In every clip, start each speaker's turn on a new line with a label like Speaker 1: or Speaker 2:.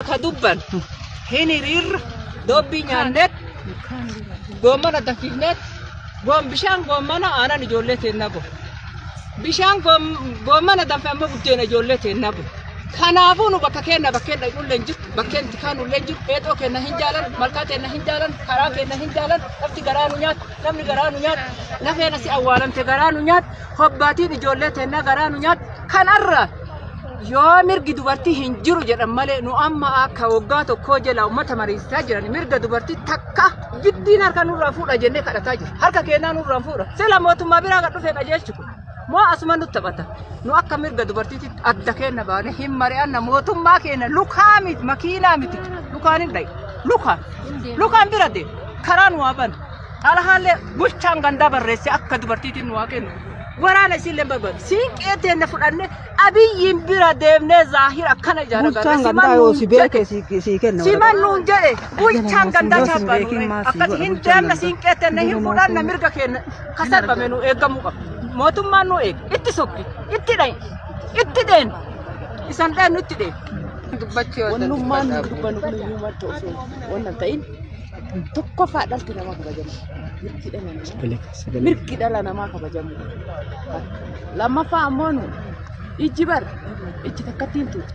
Speaker 1: Ka dubbantu hin hiriirra doobbii nyaanneet goommana danfifneet goon bishaan goommana aanan ijoollee teennaa goon. Bishaan goommana danfe ammoo buddeena ijoollee teennaa goon. Kanaafuu nu bakka keenna bakkeen dhaqnullee hin jirtu bakkeen tikaanullee hin jiru eexoo keenna hin jaalan malkaa keenna hin jaalan karaa keenna hin jaalan lafti garaa nu nyaatu namni garaa nu nyaatu lafeen asi awwaalamte garaa nu nyaatu hobbaatiin ijoollee teennaa garaa nu nyaatu kanarra yoo mirgi dubartii hin jiru jedhan malee nu amma akka waggaa tokkoo jala uummata mariisisaa jiran mirga dubartii takka giddiin harka nurraa fuudha jennee kadhataa jiru. Harka keenyaa nurraa fuudha. Sila mootummaa biraa kan dhufe qajeelchu kun. Moo asuma nutti taphata. Nu akka mirga dubartiitti adda keenna baane hin mari'anna mootummaa keenya lukaa miti makiinaa miti lukaan hin dhayi. Lukaan. Lukaan bira deema. Karaa nu waaban. Xalahaallee bulchaan gandaa barreesse akka dubartiitiin nu haa kennu. Waraana isiillee barbaadu. Siinqee teenne fudhanne abiyyiin bira deemnee zaahir akkana ijaara Bulchaan gandaa yoo si beeke si si kenna. Siman nuun jedhe bulchaan gandaa Yoo si chaabaa beekin nuun maasii akkati godha hin bulchaan deemna gandaa. siinqee teenne hin Ilma fudhanna ofii. mirga keenya ka sarbame nu eegamuu qaba. Mootummaan nu eega. Itti sokki. Itti dhayi. Itti deen. Isan dheennu itti deen. Wannummaan dubbanu kun
Speaker 2: iyyuu madda osoo wanna ta'in Tokkoffaa dhalti nama kabajamu. Mirgi dhala namaa. Mirgi dhala namaa kabajamu. Lammaffaa ammoo nu ijji bar ijji takkatti hin tuutu.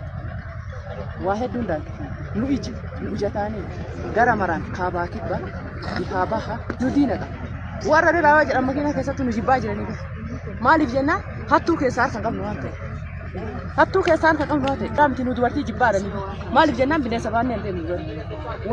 Speaker 2: Waa hedduun daandii. Nu ijji nu ijataanii gara maraan kaabaa kibba bihaa baha nu diina qaba. Warra diraawaa jedhan makiinaa keessatti nu jibbaa jiranii bas. Maaliif jennaan hattuu keessaa harka qabnu waan ta'eef. Hattuu keessaa harka qabnu waan ta'eef. Dhaamti nu dubartii jibbaa jiranii. Maaliif jennaan bineensa baannee hin deemnu.